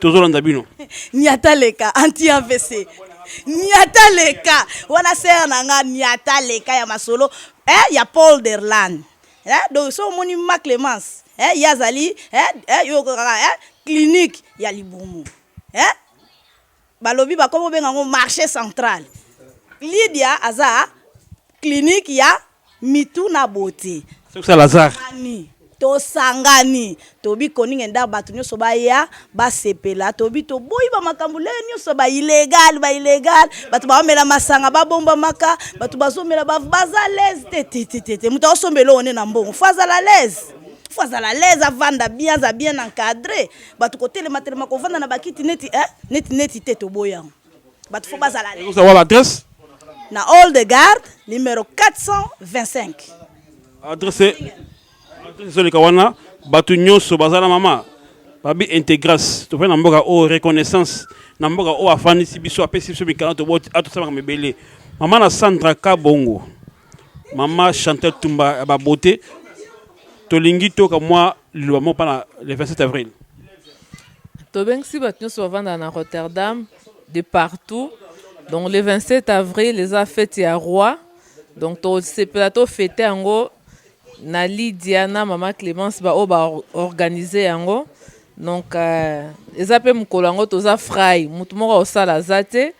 tozolanda bino niata leka anti avc niata leka wana ser na nga niata leka ya masolo eh, ya paul derland eh, donc so omoni ma clemence eh, ye azali eh, eh, yo okokaka eh, clinique ya libumu eh? Balobi bakomi kobenga yango marche central. Lydia aza clinique ya mitu na beaute. Soki sa Lazare. Tosangani, tosangani. Tobi koninga nda bato nyoso baya basepela. Tobi toboyi ba makambo lelo nyoso ba illegal, ba illegal. Bato baomela masanga babombamaka, bato bazomela ba baza à l'aise te te te te te. Moto aosomba eloko nde na mbongo faut azala à l'aise. Faut azala à l'aise avanda bien, aza bien encadre. bato kotelema telema kovanda na bakiti neti eh? neti neti te toboyi yango bato fo bazala ozawala adresse na hall de garde numero 425 adresse ezoleka wana bato nyonso baza na mama babi integras tofai na mboka oyo reconnaissance na mboka oyo afandisi biso apesi biso mikanda atosamaka mibele mama na sandra kabongo Maman Chantal Tumba ya ba beauté tolingi toyoka mwa liloba moko mpo na le 27 avril. Tobengisi bato nyonso bavandaka na Rotterdam de partout donc le 27 avril eza fete ya roi donc tosepela tofete yango na Lydia na mama Clemence baoyo baorganize yango donc euh, eza mpe mokolo yango toza frai motu moko akosala aza te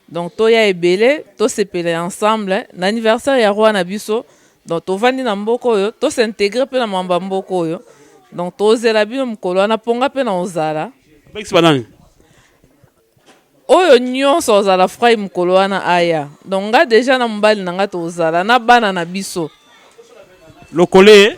Donc toya ebele tosepela ensemble na anniversaire ya roi na biso. Donc tovandi na mboka oyo to s'integrer mpe na mamba mboka oyo. Donc tozela bino mokolo wana mpo nga mpe na ozala. Bakisi banani? Oyo nyonso ozala frai mokolo wana aya. Donc nga deja na mobali na nga tozala na bana na biso. Lokole.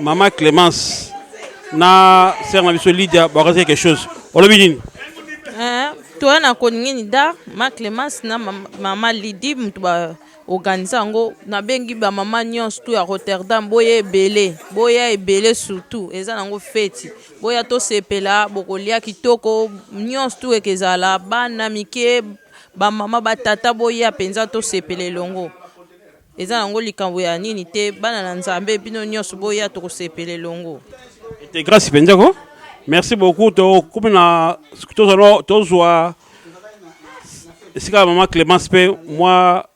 Maman Clémence na sœur na biso Lydia bakasi quelque chose. Olobi nini? Eh, toya na koningini da ma Clémence na maman Lydie mutu ba organise yango nabengi bamama nyonso tu ya rotterdam boya ebele boya ebele surtout eza nango feti boya tosepela bokolia kitoko nyonso tu eke ezala bana mike bamama batata boya mpenza tosepela elongo Eza nango likambo ya nini te bana na nzambe bino nionso boya tokosepela elongo. Ete grace penza ko. Merci beaucoup to komi na tozwa tozwa esika maman Clemence pe mwa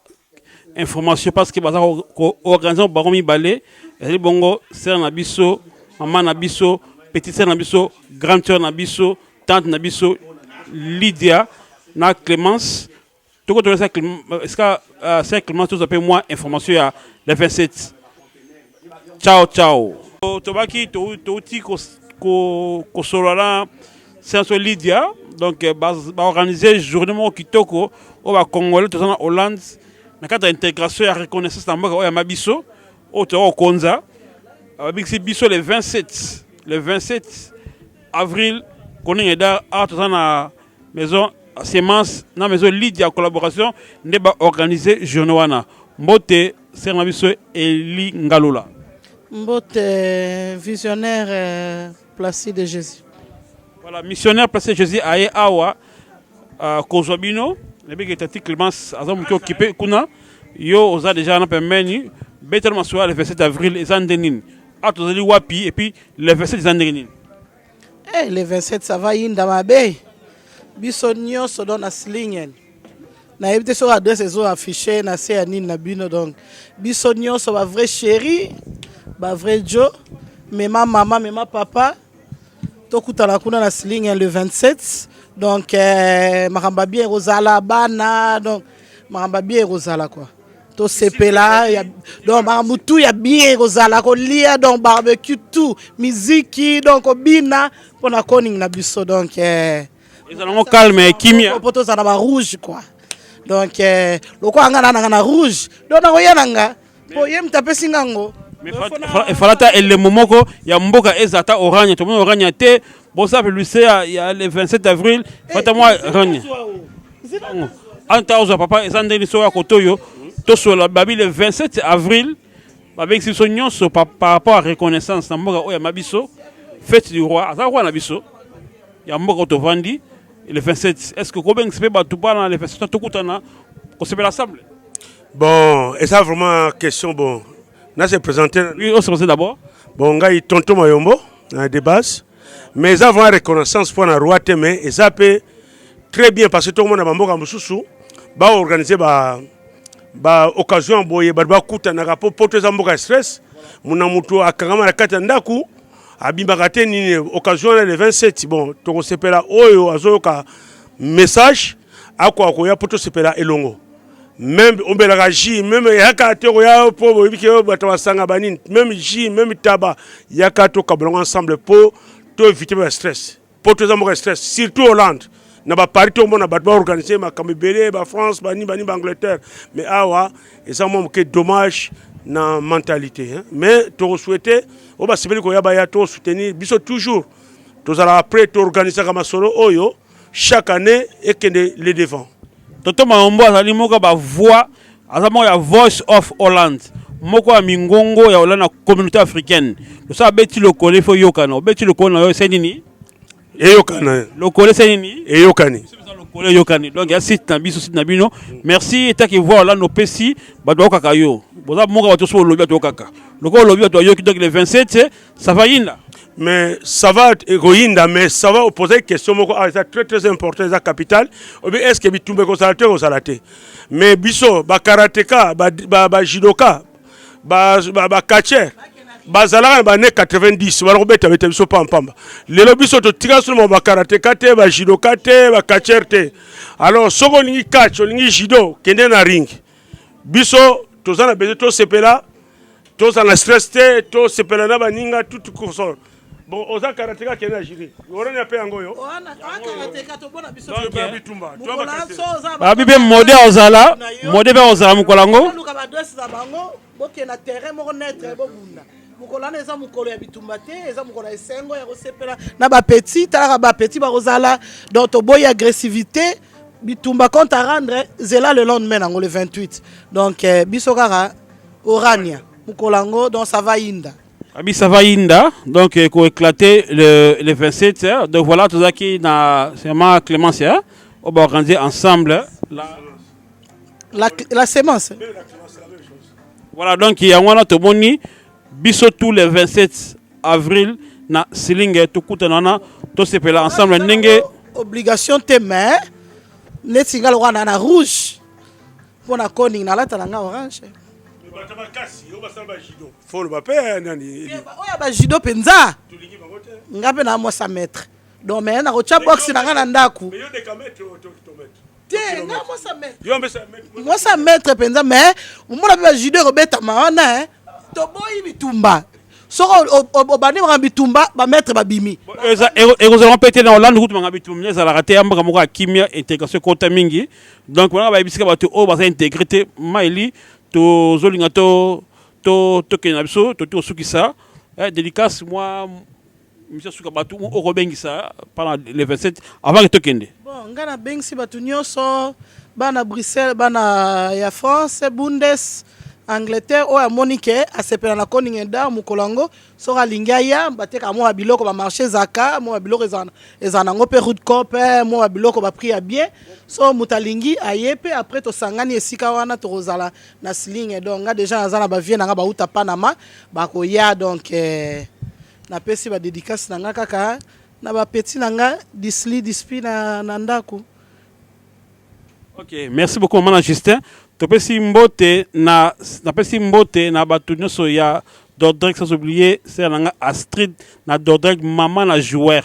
information parce que baza ko organiser bango mibale ezali bongo sœur na biso maman na biso petite sœur na biso grande sœur na biso tante na biso Lydia na Clemence toko tola sa ska euh, sa climat toza pe moi information ya le 27 ciao ciao tobaki touti kosolola na senso lydia donc euh, baorganize journée moko kitoko oyo bacongolais toza na hollande na kati ya intégration ya reconnaissance na mboka oyo yama biso oyo toza kokonza babikisi biso le 27 le 27 avril koningeda awa toza na maison semence na maison lead ya collaboration nde ba organiser journée wana mbote sere na biso eli ngalula mbote visionnaire euh, placide de jésus voilà missionnaire placide de jésus aye awa euh, kozwa bino nayebiki tati clémence aza moke okipe kuna yo oza déjà wana pembeni betela masolo ya le 27 avril eza nde nini awa tozali wapi epuis le 27 eza ndenge nini Eh, le 27 ça va yinda mabe biso nyonso don na slingen nayebi te soki adresse ezo affiche na se ya nini na bino donc biso nyonso ba vrai chéri ba vrai jo mema mama mema papa tokutana kuna na slingen le 27 donc eh, makambo ya bien ekozala bana donc makambo ya bien ekozala kua tosepela donc makambo tu ya bien kozala kolia donc barbecue tout miziki donc kobina mpo na koning na biso donc eh. ezalango calme kimia mpo tozala ba rouge quoi donc eh, lokola nga nananga na rouge donc nakoya na nga mpo ye moto apesi nga yango efalata elemo moko ya mboka eza ata orania tomoni orania te bosa publicité ya, ya le 27 avril fata mwa rani anta ozwa papa eza ndenge liso ya koto oyo tosola babi le 27 avril babengisi biso nyonso par rapport ya reconnaissance na mboka oyo yama biso fete du roi aza roi na biso ya mboka oyo tovandi le 27 est ce que kobengisa mpe bato bana le 27 tokutana kosepela ensemble bon eza vraiment question bon Na se présenter. Oui, on se présente d'abord. Bon, ngai Tonton Mayombo, na de base. Mais eza vraiment reconnaissance pour na roi te mais eza pe très bien parce que tout le monde ba mboka mususu ba organiser ba ba occasion boye ba bakutanaka po poto eza mboka stress muna mutu akangama na kati ya ndaku abimaka te nini occasion na le 27 bon tokosepela oyo azoyoka message akoka koya po tosepela elongo meme omelaka jus meme yaka te okoya yo mpo boyebi ke bato basanga banini meme jus meme taba yaka tokabolango ensemble mpo to évite ba stress mpo toza mboka stress surtout hollande na baparis tomona bato baorganize makambo ebele bafrance banini banini baangleterre mais awa eza mwa moke dommage na mentalité hein? mais tokosouhaite oyo basepeli koya baya tosoutenir biso toujours tozalaka prêt toorganisaka masolo oyo chaque année ekende le devant toto maombo azali moko ya bavoix aza moko ya voice of holland moko ya mingongo ya holland na communauté africaine loso abeti lokole fo yokana obeti lokole na yo ese nini eyokana lokole ese nini eyokani lokole eyokani donc ya site na biso site na bino merci etaki voix holland opesi bato bayokaka yo boza moko ya bato so olobi bato yokaka lokola olobi bato bayoki donc le 27 Ça va yinda mais ça va ekoyinda mais ça va opposer question moko ah, eza très très important eza capital obi est ce que bitumba ekozala te ekozala te mais biso bakarateka bajudoka bacatcher bazalaka na bane 90 bana kobetabeta biso pampamba lelo biso totika solo ma bakarateka te bajudoka te bacatcher te alors soki olingi catch olingi judo kende na ring biso toza na besoin tosepela tozala na stress te tosepela na baninga tout courson bon oza karateka kende na jiri orania mpe yango oyo babi mpe mode ozala mode mpe ozala mokolo yango bokenda terrain moko netre bobunda mokolo wana eza mokolo ya bitumba te eza mokolo ya esengo ya kosepela na bapetit talaka bapetit bakozala donc toboyi agressivité bitumba compte à rendre zela le lendemain nango le 28 donc eh, biso kaka Orania mukolo yango donc ça va inda. Abi ça va inda donc eh, ko éclater le le 27 hein. donc voilà tozaki na sema Clémence hein. on va organiser ensemble la la, la semence. Voilà donc il y a un autre moni biso tous les 27 avril na silinge tokutana na tosepela ensemble ndenge obligation te mais neti nga lokola na rouge Mpo na koning nalata na nga orange. Bata makasi, yo basala ba judo. Faut le bape eh, nani. Eh, oyo ba judo penza. Tulingi bango te. Nga pe na mosa maître. Donc mais na kocha box na nga na ndaku. Mais yo de kamet to to maître. Te nga mosa maître. Yo mbesa maître. Mosa maître penza mais omona pe ba judo ko beta ma wana eh. toboyi bitumba soko obandi makambo bitumba bametre babimi ekozala mpe te na olande kutu makambo bitumba mine ezalaka te ya mboka moko ya kimia intégration ekota mingi donc banaka bayebisika bato oyo baza integre te maili tozolinga tokende na biso tokoki kosukisa eh, dédicace mwa Monsieur suka batu oko bengisa pendant le 27 avant que tokende. Bon, nga na bengisi batu nyoso bana Bruxelles, bana ya France, Bundes, Angleterre oyo amoni ke asepela na Koningen Dar mokolo yango soki alingi aya bateka mwa biloko ba marché zaka mwa biloko ezana ezana nango pe route cop eh, mwa biloko ba prix ya bien so moto alingi aye pe après tosangani esika wana tokozala na sling donc nga deja naza na ba vieux na nga bauta Panama bakoya donc eh, Na pesi ba dedicace na nga kaka na ba petit na nga Disly Dispi na, na ndaku. Ok, merci beaucoup maman Justin. Topesi mbote na napesi mbote na bato nyonso ya Dordrex sans oublier sera nanga Astrid na Dordrex maman na joueur.